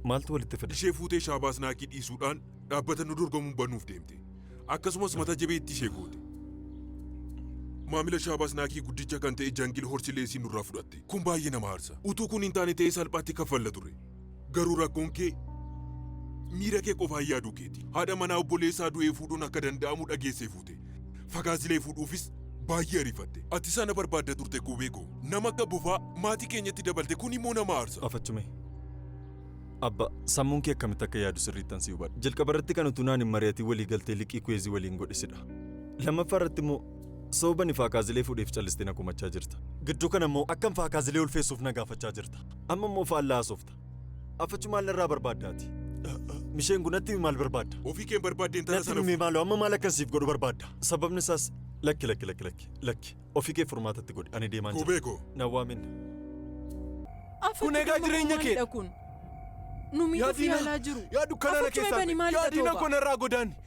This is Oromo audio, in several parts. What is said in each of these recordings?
Maaltu walitti fide? Ishee fuutee Shaabaas Naakii dhiisuudhaan dhaabbata nu dorgomuun banuuf deemte. Akkasumas mata jabeettii ishee goote. Maamila Shaabaas Naakii guddicha kan ta'e Jangil Horsi Leesii nurraa fudhatte. Kun baay'ee nama aarsa. Utuu kun hin taane ta'ee salphaatti kaffalla ture. Garuu rakkoon kee miira kee qofaan yaaduu keeti. Haadha manaa obboleessaa du'ee fuudhuun akka danda'amu dhageessee fuute. Fagaazilee fuudhuufis baay'ee ariifatte. Ati isa na barbaadda turte Kuubee koo. Nama akka bofaa maatii keenyatti dabalte kun immoo nama aarsa. Afachume. Abba, sammuun kee akkamitti akka yaadu sirriittan si hubadha. Jalqaba irratti kan utuu naan hin mari'atin walii galtee liqii Kuweezii waliin godhe sidha. Lammaffaa irratti immoo sababa ani Faakaazilee fuudheef callistee na komachaa jirta. Gidduu kana immoo akkan Faakaazilee ulfeessuuf na gaafachaa jirta. Amma immoo faallaa haasofta. Affachu maal narraa barbaadda ati? Misheen kun natti himi maal barbaadda? Ofii keen barbaadde intala Natti sana himi maaloo amma maal akkan siif godhu barbaadda? Sababni isaas lakki lakki lakki lakki lakki ofii kee furmaatatti godhi ani deemaan jira. Kubee koo. Na waamin. Kun egaa jireenya kee. kun. Nu miidhuuf Yaadina- yaalaa jiru. Yaa dukkanaa na Affachu keessaa. eebani maalidha Yaadina tooba? koo narraa godaanni.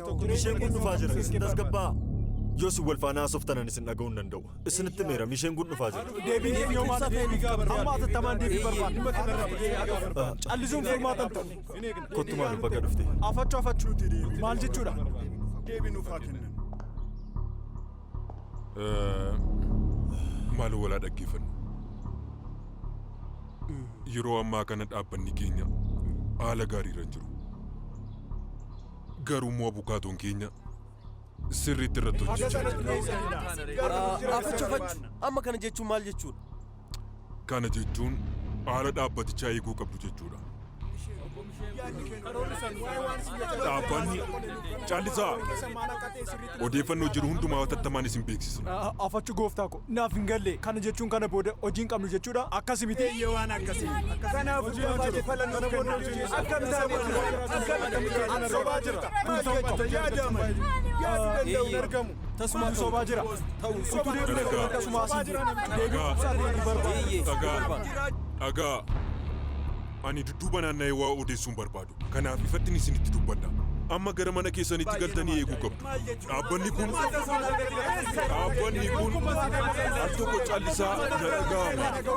Tokko isheen kun dhufaa jira. Isin tasgabbaa. Yoo isin wal faana haasoftanan isin dhaga'uu hin danda'u. Isinitti meera isheen kun dhufaa jira. Deebiin deebii yoo maata deebii gaafadha. Amma atattamaan deebii barbaada. Dhimma kana irratti deebii gaafadha. Callisuun furmaata hin ta'u. Kottu maal baga dhufte. Afachuu afachuuti deebii. Maal jechuudha? Deebii nuuf haa kennan. Maaloo walaa dhaggeeffannu. Yeroo ammaa kana dhaabbanni keenya haala gaariirra hin jiru. Garuu immoo abukaatoon keenya sirriitti irratti hojjechaa jira. Afachu afachu amma kana jechuun maal jechuudha? Kana jechuun haala dhaabbatichaa eeguu qabdu jechuudha. Dhaabbanni caallisaa Odeeffannoo jiru hundumaa hatattamaan isin beeksisna. Afachu gooftaa ko, naaf hin galle. Kana jechuun kana booda hojii hin qabnu jechuudha? Akkasi miti? Eeyyee waan akkasi. Kanaafuu jabaate fala nuuf kenna. Akkam taane Akkam sobaa jirta. Maal jechuun yaadaa mali. Yaadu danda'u hin argamu. Tasumaa sobaa jira. Ta'u utuu deebine kun akkasuma asii jira. Deebiin ibsaa deebii barbaada. Dhagaa. Dhagaa. Ani dudduuba naanna'ee waa odeessuun barbaadu. Kanaaf ifattin isinitti dubbadha. Amma gara mana keessaniitti galtanii eeguu qabdu. Dhaabbanni kun, dhaabbanni kun al tokko callisaa na dhaga'amu.